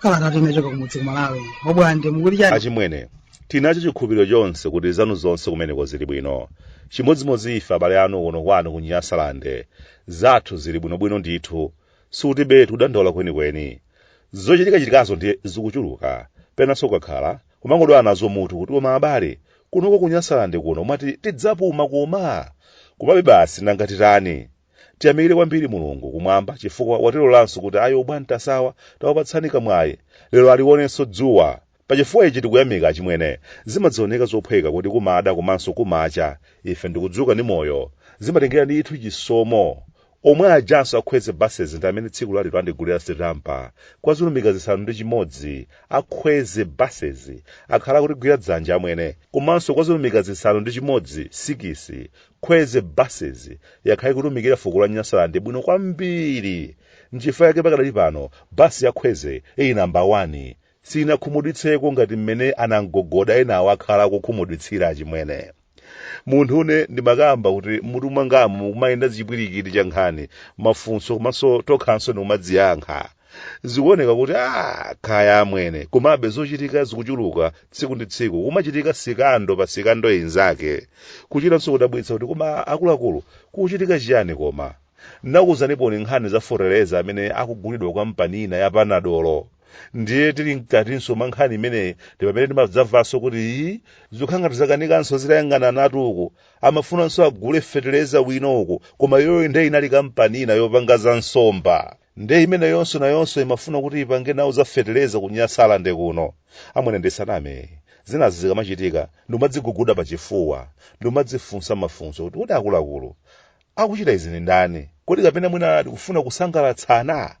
kalata tinachoka kumudzi kumalawi obwande mukuti chani achimwene tinacho chikhulupiriro chonse kuti zanu zonse kumeneko zili bwino chimodzimodzi ife abale anu kuno kwanu ku nyasalande zathu zili bwinobwino ndithu tilibetu kudandaula kwenikweni zochitikachitikazo ndiye zikuchuluka penanso ukakhala kumangodwala nazo mutu kuti koma abale kunoko kunyasalande kuno mwati tidzapuma koma komabe basi nanga titani tiyamikire kwambiri mulungu kumwamba chifukwa watilolanso kuti ayi obwantasawa tawapatsani kamwayi lero aliwonenso dzuwa Pa chifukwa ichi tikuyamika achimwene. Zimadzioneka zophweka kuti kumada komanso kumacha ife ndikudzuka ndi moyo. Zimatengera ndithu chisomo. Omwe ajanso a Kwezy Buses ndi amene tsiku lalero andigulira sitampa. Kwa zilumika zisanu ndi chimodzi, a Kwezy Buses akhala akutigwira dzanja amwene. Komanso kwa zilumika zisanu ndi chimodzi, sikisi, Kwezy Buses yakhala ikutumikira fuko la Nyasaland bwino kwambiri. Nchifukwa chake pakadali pano, bus ya Kwezy ili number one. siinakhumudwitseko ngati mmene anamgogoda enawo akhala akukhumudwitsira achimwene munthune ndimakamba kuti mutu mwangamu mukumayenda chipwirikiti cha nkhani mafunso komanso tokhanso ndikumadziyankha zikuoneka kuti a kaya amwene komabe zochitika zikuchuluka tsiku ndi tsiku kumachitika sikando pa sikando inzake kuchitanso kudabwitsa kuti koma akuluakulu kukuchitika chiyani koma nakuuzanipo nkhani za fotereza amene akugulidwa kwa kampani ina ya panadolo ndiye tili mkatinso mwa nkhani imeneyi ndi pamene timadzamvanso kuti ii zikukhala ngati zakanikanso zitayang'ananatu uku amafunanso agule feteleza wina uku koma iyoyo nde inali kampani ina yopanga za nsomba nde imeneyonso nayonso imafuna kuti ipange nawo za feteleza kunyasalande kuno amwene ndisaname zinazi zikamachitika ndimadziguguda pa chifuwa ndimadzifunsa mafunso kuti kodi akuluakulu Akuchita izi ndi ndani? Kodi kapena mwina tikufuna kusangalatsana?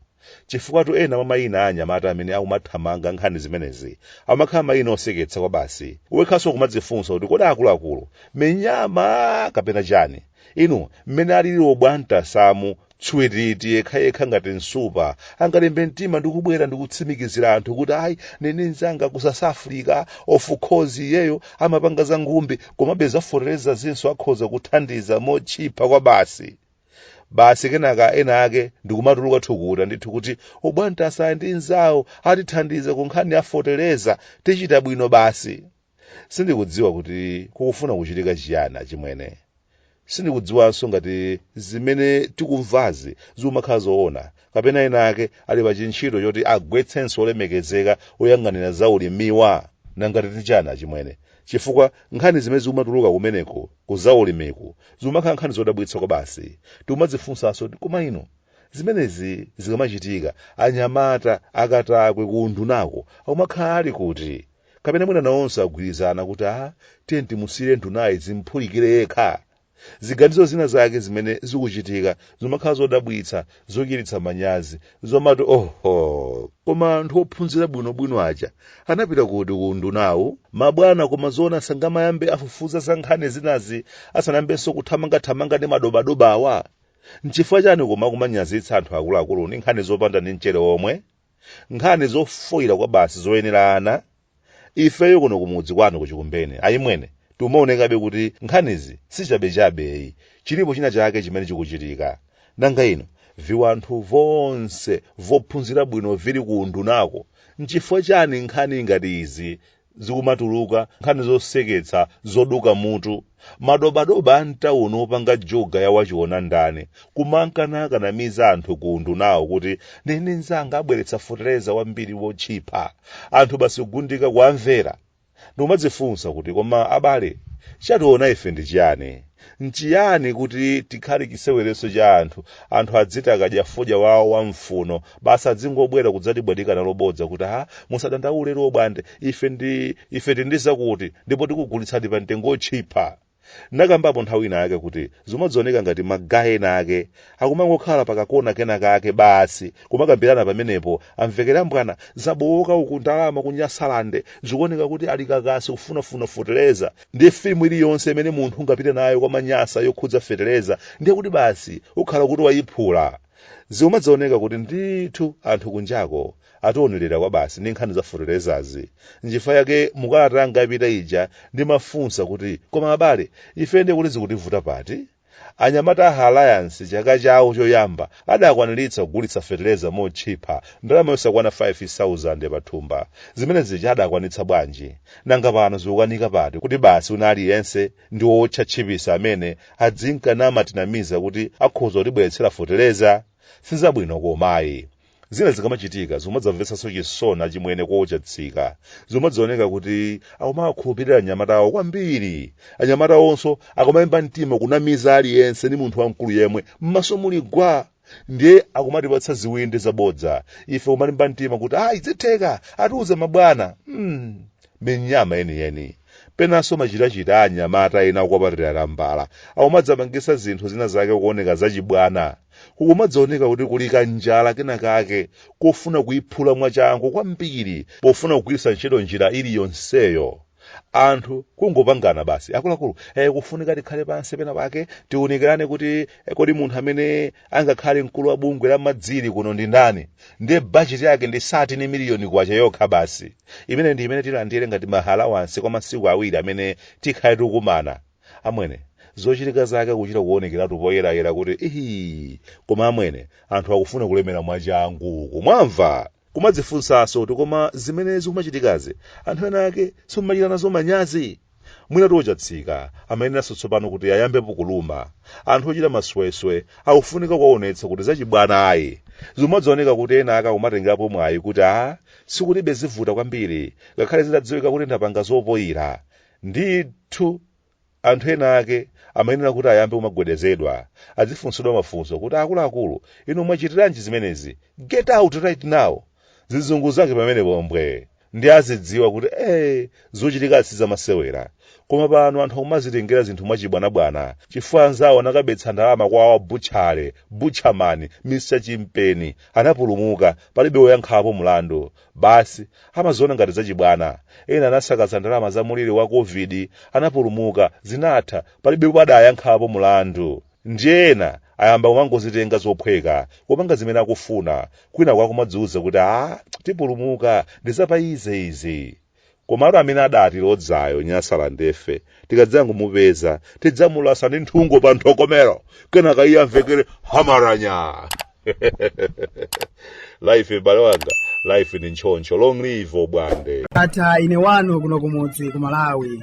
Chifukwatu ena mwa mayina a anyamata amene akumathamanga nkhani zimenezi amakhala mayina oseketsa kwabasi. Wekhanso ukumadzifunsa kuti kodi akuluakulu, minyama kapena chani? Inu, mmene alili obwantasamu, tswititi, yekhayekha ngati nsupa, angalimbe mtima ndi kubwera ndi kutsimikizira anthu kuti ayi, ndili ndi mnzanga ku South Africa, of course iyeyo amapanga za ngumbi, komabe zafoterezazinso akhoza kuthandiza motchipa kwabasi basi kenaka ena ake ndikumatuluka thukuta ndithu kuti obwantasa aja ndi nzawo atithandiza ku nkhani yafotereza tichita bwino basi sindikudziwa kuti kukufuna kuchitika chiyani achimwene sindikudziwanso ngati zimene tikumvazi zikumakhala zoona kapena ena ake ali pa chintchito choti agwetsenso olemekezeka oyang'anira za ulimiwa nanga titchanani achimwene chifukwa nkhani zimene zikumatuluka kumeneko ku za ulimiku zikumakhala nkhani zodabwitsa kwa basi tikumadzifunsanso kuti koma ino zimenezi zikamachitika anyamata akatakwe ku undunako akumakhala ali kuti kapena mwina nawonso agwirizana kuti a tiye timusiyire ndunayi zimphulikire yekha ziganizo zina zake zimene zikuchitika zimakhala zodabwitsa zochititsa manyazi zomati oho koma anthu ophunzira bwinobwino aja anapita kuti ku undunawu mabwana koma zoona sangamayambe afufuza za nkhani zinazi asanayambenso kuthamangathamanga ndi madobadobawa nchifukwa chani kumakumanyazitsa anthu akuluakulu ndi nkhani zopanda ndi mchere omwe nkhani zofoira kwa basi zoyenerana ifeyo kuno kumudzi kwanu ku Chikumbeni ayimwene tikumaonekabe kuti nkhanizi sichabechabe ayi chilipo china chake chimene chikuchitika nanga ino viwanthu vonse vophunzira bwino vili ku undunako nchifukwa chani nkhani ngati izi zikumatuluka nkhani zoseketsa zoduka mutu madobadoba a mtawuni opanga juga ya wachiona ndani kumanka nakanamiza anthu ku undunawo kuti ndine ndi nzanga abweretsa fetereza wambiri wotchipa anthu basi kugundika kuamvera ndikumadzifunsa kuti koma abale chationa ife ndi chiyani nchiyani kuti tikhale chiseweretso cha anthu anthu adziti akadya fodya wawo wa mfuno basi adzingobwera kudzatibwatika nalo bodza kuti ha musadandaule lero bwande ife ndi ife tili ndi zakuti ndipo tikugulitsani pa mtengo otchipa ndakambapo nthawi ina yake kuti zimadzioneka ngati magaye ena ake akumangokhala pakakona kena kake basi kumakambirana pamenepo amvekera mbwana zabowoka uku ndalama ku nyasalande zikuoneka kuti ali kakasi kufunafuna fetereza ndiye filimu iliyonse imene munthu ungapite nayo kwa manyasa yokhudza fetereza ndiye kuti basi ukhala kuti wayiphula Zikumadzioneka kuti ndithu anthu kunjako ationerera kwabasi ndi nkhani za feterezazi. Nchifukwa chake mu kalata yanga yapita ija ndimafunsa kuti, koma abale, ife ndiye kuti zikutivuta pati? Anyamata a Alliance chaka chawo choyamba adakwaniritsa kugulitsa fetereza motchipha ndalama yosakwana 5,000 pa thumba. Zimene zija adakwanitsa bwanji? Nanga pano zikukanika pati kuti basi wina aliyense ndi owotcha tchipisi amene adzinka namatinamiza kuti akhoza kutibweretsera fotereza sizabwino koma ayi zina zikamachitika zikumadzamvetsanso chisoni achimwene Kochatsika zikumadzioneka kuti akumawakhulupirira anyamata awo kwambiri anyamata awonso akumalimba mtima kunamiza aliyense ndi munthu wamkulu yemwe m'maso muli gwa ndiye akumatipatsa ziwindi zabodza ife kumalimba mtima kuti ayi zitheka atiuze mabwana mm. minyama yeniyeni penanso machitachita anyamata ena akukwapatira tambala akumadzamangisa zinthu zina zake kuoneka zachibwana kukumadzaoneka kuti kuli kanjala kena kake kofuna kuyiphula mwachangu kwambiri pofuna kugwiritsa ntchito njira iliyonseyo anthu kungopangana basi akuluakulu eh, kufunika tikhale pansi pena pake tiunikirane kuti eh, kodi munthu amene angakhale mkulu wa bungwe la madziri kuno ndi ndani ndiye bajeti yake ndi satini miliyoni kwacha yokha basi imene ndi imene tilandire ngati ma allowance kwa masiku awiri amene tikhale tikumana amwene zochilika zake kuchita kuonekeratu poyerayera kuti ii koma amwene anthu akufuna kulemera mwachangu kumwamva Kumadzifunsanso kuti koma zimene zikumachitikazi anthu ena ake simumachita nazo manyazi? Mwinatu Ochatsika amayeneranso tsopano kuti ayambepo kuluma. Anthu ochita masweswe akufunika kuwaonetsa kuti zachibwana ayi. Zimadzaoneka kuti ena ake akumatengerapo mwayi kuti ah sikulibe zivuta kwambiri ngakhale zitadziwika kuti ndapanga zopoira. Ndithu. Anthu ena ake amayenera kuti ayambe kumagwedezedwa, azifunsidwa mafunso kuti akuluakulu inu mwachitiranji zimenezi? Get out right now! Zizungu zake pamenepo mbwe! Ndiye azidziwa kuti ee zochilika sizamasewera. Koma pano anthu akumazitengera zinthu mwachibwanabwana chifukwa anzawo anakabetsa ndalama kwa wa butchale, butcherman, Mr Chimpeni, anapulumuka, palibe woyankhapo mlandu. Basi, amaziona ngati zachibwana. Ena anasakaza ndalama za muliri wa Covid, anapulumuka, zinatha, palibepo adayankhapo mulandu. Ndiye ena ayamba kumangozitenga zophweka, kupanga zimene akufuna, kwinaku akumadziuza kuti aah tipulumuka, ndi zapa easy izi. Komatu amene adatilodzayo Nyasalandefe, tikadzangomupeza, tidzamulasa ndi nthungo pa nthokomero, kenaka iye amvekere hamaranya! life m'bale wanga, life ndi ntchoncho. Long live Obwande! Ndatha ine wanu kuno kumudzi ku Malawi.